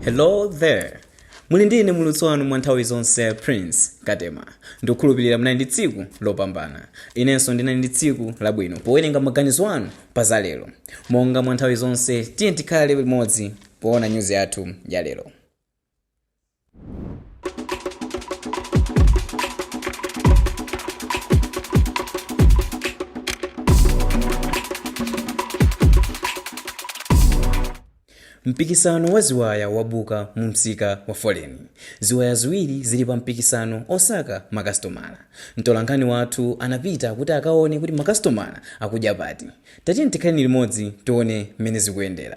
hello there muli ndi ine mulutsi wanu mwa nthawi zonse prince katema ndikukhulupirira munali ndi tsiku lopambana inenso ndinali ndi tsiku labwino powerenga maganizo anu pa za lero monga mwa nthawi zonse tiye tikhale limodzi poona nyuzi yathu ya lero mpikisano wa ziwaya wabuka mu msika wa foleni ziwaya ziwiri zili pa mpikisano osaka makasitomala mtolankhani wathu anapita kuti akaone kuti makasitomala akudya pati tatiye tikhaleni limodzi tione mmene zikuyendera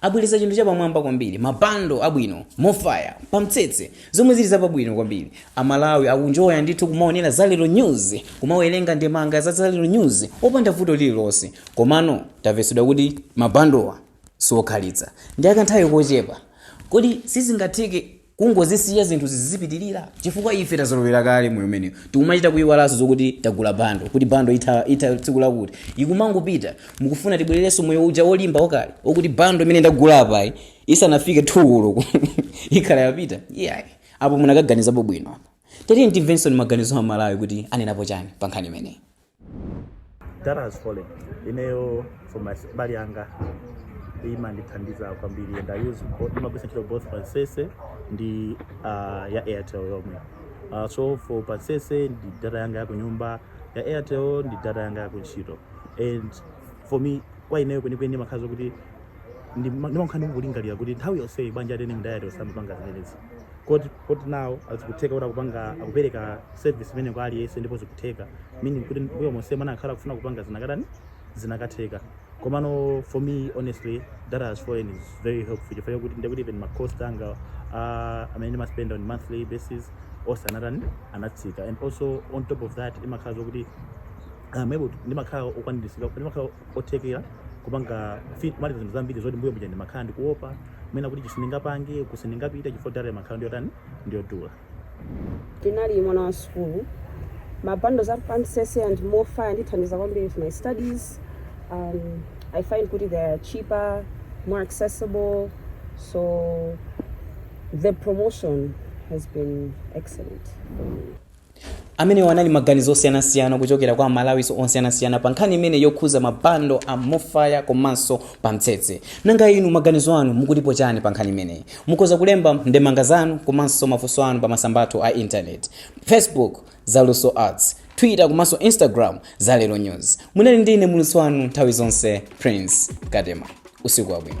Abweretsa chinthu chapamwamba kwambiri, ma bundle abwino, MoFaya, pamtsetse, zomwe zili zapabwino kwambiri. A Malawi akunjoya ndithu kumaonera Za Lero News, kumawerenga ndemanga za Za Lero News opanda vuto lililonse. Komano tamvetsedwa kuti ma bundle-wa si okhalitsa, ndi akanthawi kochepa. Kodi sizingatheke kungozisiya zinthuzi zizipitilira chifukwa ife tazolowera kale moyo umenewu tikumachita kuyiwalanso zokuti tagula bando kuti bando itha, itha tsiku lakuti ikumangopita mukufuna tibwererenso moyo uja wolimba wakale okuti bando imene ndagula apayi isanafike thu koloko ikhala yapita iyayi apo munakaganizapo bwino apa tatiye timvenso maganizo a Amalawi kuti anenapo chani pa nkhani imeneyi Data has fallen. Ineyo for mbali yanga imandithandiza kwambiri and I use both ndimagwiritsa ntchito both Pamtsetse ndi uh, ya Airtel yomwe. Uh, so for Pamtsetse ndi data yanga ya kunyumba, ya Airtel ndi data yanga ya kuntchito. And for me kwa ineyo kwenikweni imakhala zokuti ndimakhala ndikulingalira kuti nthawi yonseyi bwanji a TNM ndi Airtel osamapanga zimenezi. Kodi kodi now zikutheka kuti akupanga akupereka service imeneyi kwa aliyense ndipo zikutheka meaning kuti mbuyo monsemu anakakhala akufuna kupanga zinakatani zinakatheka komano for me honestly data has fallen is very helpful chifukwa chakuti ndekuti even ma cost anga amene ndimaspenda on monthly basis onse anatani anatsika and also on top of that imakhala zokuti I'm able to ndimakhala okwaniritsidwa ndimakhala othekera kupanga fit kumaliza zinthu zambiri zoti mbuyo muja ndimakhala ndikuopa mwina kuti ichi sindingapange uku sindingapite chifukwa data imakhala ndiyotani ndiyodula Ndine mwana wa sukulu. Ma bundles a Pamtsetse and MoFaya andithandiza kwambiri with my studies. Um, I find kuti they are cheaper, more accessible. So the promotion has been excellent. Amenewa anali maganizo osiyanasiyana kuchokera kwa Amalawi osiyanasiyana pa nkhani imeneyi yokhuza ma bundle a MoFaya komanso Pamtsetse. Nanga inu maganizo anu mukutipo chani pa nkhani imeneyi? Mukhoza kulemba ndemanga zanu komanso mafunso anu pa masamba athu a internet, Facebook, Zaluso Arts, Twitter komanso Instagram, Za Lero News. Munali ndi ine, Mulutsi wanu nthawi zonse, Prince Katema. Usiku wabwino.